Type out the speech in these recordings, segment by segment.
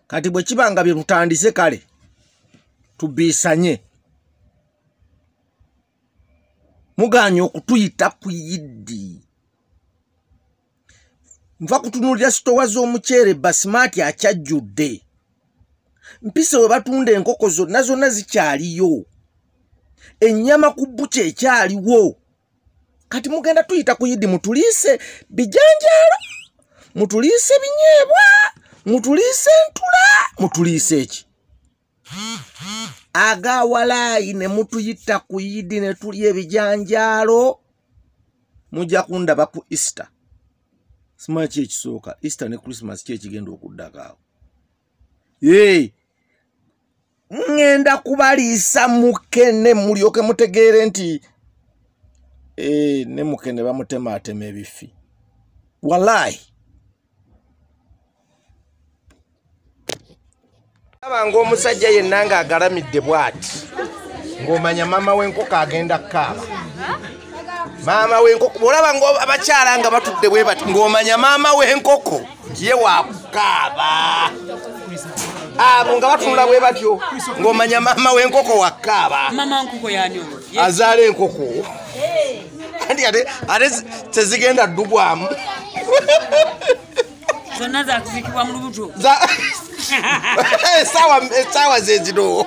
kati bwe kiba nga bye butandise kale tubiisanye muganye okutuyita ku yiddi nva kutunulira sitowa z'omuceere basimaati akyajjudde mpise we batunda enkoko zonna zonna zikyaliyo ennyama ku bbuki ekyaliwo kati mugenda tuyita ku idi mutuliise bijanjaalo mutuliise binyeebwa mutuliise ntula mutuliise eki agawalaayi ne mutuyita ku idi ne tulya ebijanjaalo mujja kundaba ku easter simanyi ki ekisooka easter ne christmas ki ekigenda okuddakaawo hey. ŋŋenda kubaliisa mukene mulyoke mutegeere nti eh, ne mukene bamutemaatema ebifi walaayi aba ngaomusajja yenna ng'agalamidde bw'ati ng'omanya maama w'enkoko agenda kukaaba maama w'enkoko olaba ng'abakyala nga batudde bwe bati ng'omanya maama w'enkoko ye wakukaaba abo nga batunula bwe batyo ng'omanya maama w'enkoko wakukaaba azaala enkoko andi ate ate tezigenda ddugwamu zonna zakuzikibwa mu lubuto esaawa eh, zezino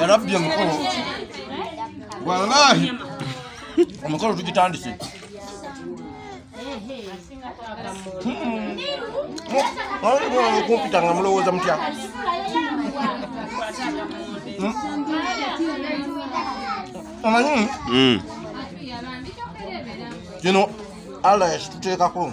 ya rabbi omukolo wallahi omukolo tugitandise kumpita nga mulowooza mutya omanyi hmm. kino allah yakituteekako